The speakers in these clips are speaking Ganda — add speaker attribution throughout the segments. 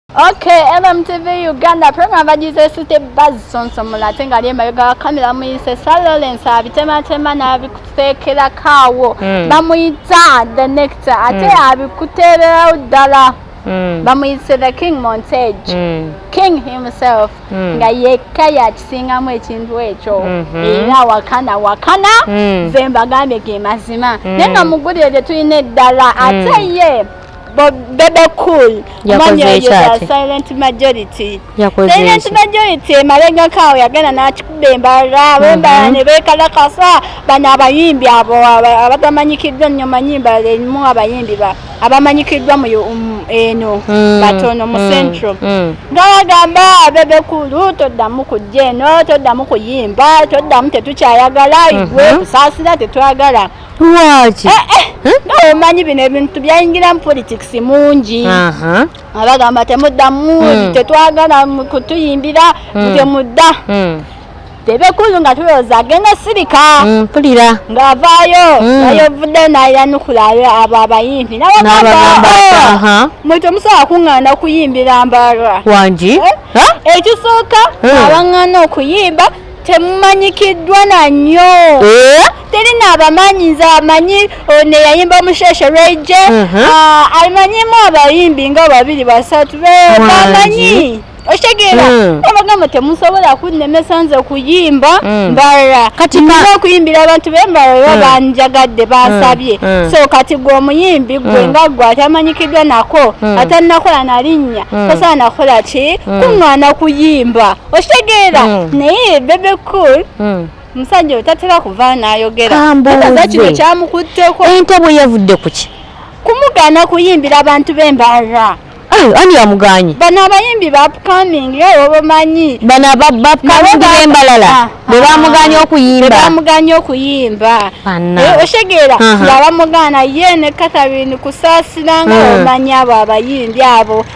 Speaker 1: Okay, MMTV Uganda program bagize site buzz sonso mulate nga lye mayoga wa kamera muyise Sir Lawrence abitema tema na abikutekera kawo mm. bamuyita the nectar ate mm. abikuterera udala mm. bamuyise the king montage mm. king himself mm. nga yekka yakisingamu ekintu ekyo mm -hmm. era wakana wakana mm. zemba gambye ge mazima mm. naye nga mugulire lye tulina eddala mm. ate ye Bebe Cool omwami oyo za Silent Majority Silent Majority emabegako awo yagenda n'akikuba embala bembala mhm. ne beekalakasa bano abayimbi abo abatamanyikiddwa nnyo manyi embala erimu abayimbi ba abamanyikiddwa mu um, eno mm, batono mu mm, central mm. nga bagamba bebe kulu toddamu kujja eno toddamu kuyimba toddamu tetukyayagala igwe mm-hmm. kusaasira tetwagala lwaki
Speaker 2: eh, eh. hmm?
Speaker 1: omanyi bino ebintu byayingira mu politics mungi abagamba temuddamu hmm. tetwagala kutuyimbira hmm. temudda tebekulu nga tulowooza agenda sirika mpulira
Speaker 2: ng'avaayo
Speaker 1: ayovudde nayanukulayo abo abayimbi nabagamba oh, mwe temusobola kuŋŋaana okuyimbira mbalwa wangi
Speaker 2: eh? ekisooka
Speaker 1: abaŋŋaana okuyimba temumanyikiddwa na nnyo eh? teri naabamanyi nze amanyi ono eyayimba omusheshe rege mhm. ah, amanyimu abayimbi nga babiri basatu bamanyi okitegera hmm. abagamba temusobola kunnemesa nze kuyimba hmm. mbalala kati okuyimbira abantu bembala oba hmm. banjagadde bansabye so kati gwe omuyimbi gwe nga gwe atamanyikiddwa nako atanakola nalinnya tosaana kukola ki kuŋŋaana kuyimba okitegeera hmm. naye bebe cool hmm. musajja oyo tatera kuva nayogerakino kyamukutteko ente bwe yavudde
Speaker 2: kuki kumugaana
Speaker 1: kuyimbira abantu b'embarra ani
Speaker 2: yamuganyi bano abayimbi
Speaker 1: bapcoming era obamanyi bano bapcoming
Speaker 2: bembalala ah, bebamuganya ah. okuyimba bebamuganya okuyimba eh, oshegera yabamugaana ye ne katharine kusasira nga hmm. omanyi abo abayimbi abo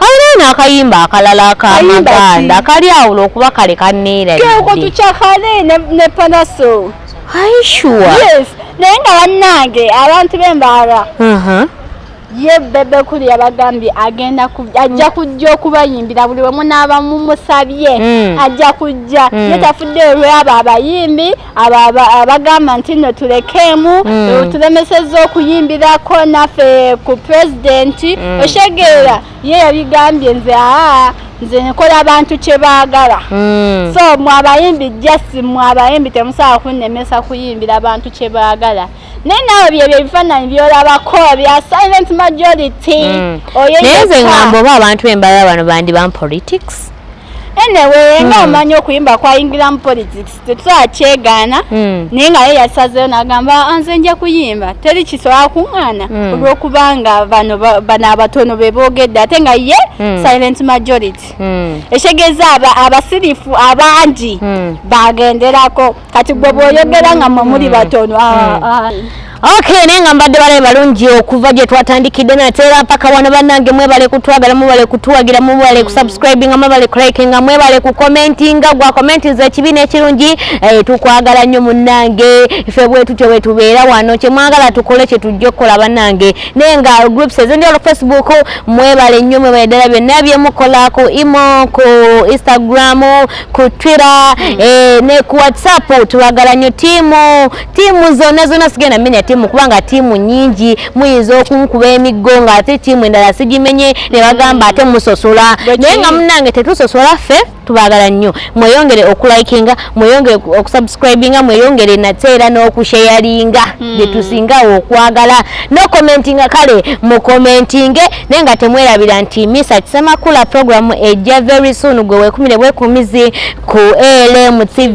Speaker 1: Alina na akayimba
Speaker 2: akalala akamaganda kali awula okuba kale kaneera keko tukyakale
Speaker 1: ne, ne panaso aishuwa
Speaker 2: yes naye
Speaker 1: nga bannange abantu b'embaala uh -huh. ye bebe kuli yabagambye agenda ajja kujja okubayimbira buli wemu n'abamumusabye mm. ajja kujja mm. ye tafudde olwabo abayimbi abo abagamba nti no tulekeemu mm. tulemesezza okuyimbirako naffe ku pulezidenti mm. oshegeera ye yabigambye nze aa nze nkola abantu kyebaagala mm. so mwabayimbi just mwabayimbi temusobola kunnemesa kuyimbira abantu kyebaagala naye naawe byebyo ebifaananyi byolabako bya silent majority mm. naye
Speaker 2: nze ngamba oba abantu bembalala bano bandi ban politics anyway
Speaker 1: nga hmm. omanyi okuyimba kwayingiramu politics tetusobola kyegaana hmm. naye nga ye yasazeyo nagamba ah, nze nja kuyimba teri kisobola kuŋŋaana hmm. olwokubanga bano bano abatono be boogedde ate nga ye silent majority ekitegeeza abasirifu abangi bagenderako kati gwe bwoyogera nga mwe muli batono
Speaker 2: ah, hmm. ah. ok naye nga mbadde balabe balungi okuva gye twatandikidde nate era mpaka wano bannange mwebale kutwagala mwebale kutuwagira mwebale hmm. kusubscribinga mwebale kulikinga mwebale kukomentinga gwa komentinza ekibi n'ekirungi eh, tukwagala nnyo munnange ffe bwetutyo bwetubeera wano kyemwagala tukole kyetujja okukola bannange naye nga groups ezendi olu facebook mwebale nnyo mwebale ddala byonna byemukola ku imo ku instagram ku Twitter mm. eh, ne ku WhatsApp tubagala nyo tiimu tiimu zonna zonna sigenda menya tiimu kubanga tiimu nyingi muyinza okunkuba emiggo nga ate tiimu endala sigimenye ne bagamba ate musosola naye nga munange tetusosola ffe tubagala nnyo mweyongere okulikinga mweyongere okusubscribinga mweyongere nate era n'okusheyaringa mm. byetusingawo okwagala nokomentinga kale mukomentinge naye nga temwerabira nti misa kisemakula program ejja very soon gwe wekumire bwekumizi ku elm tv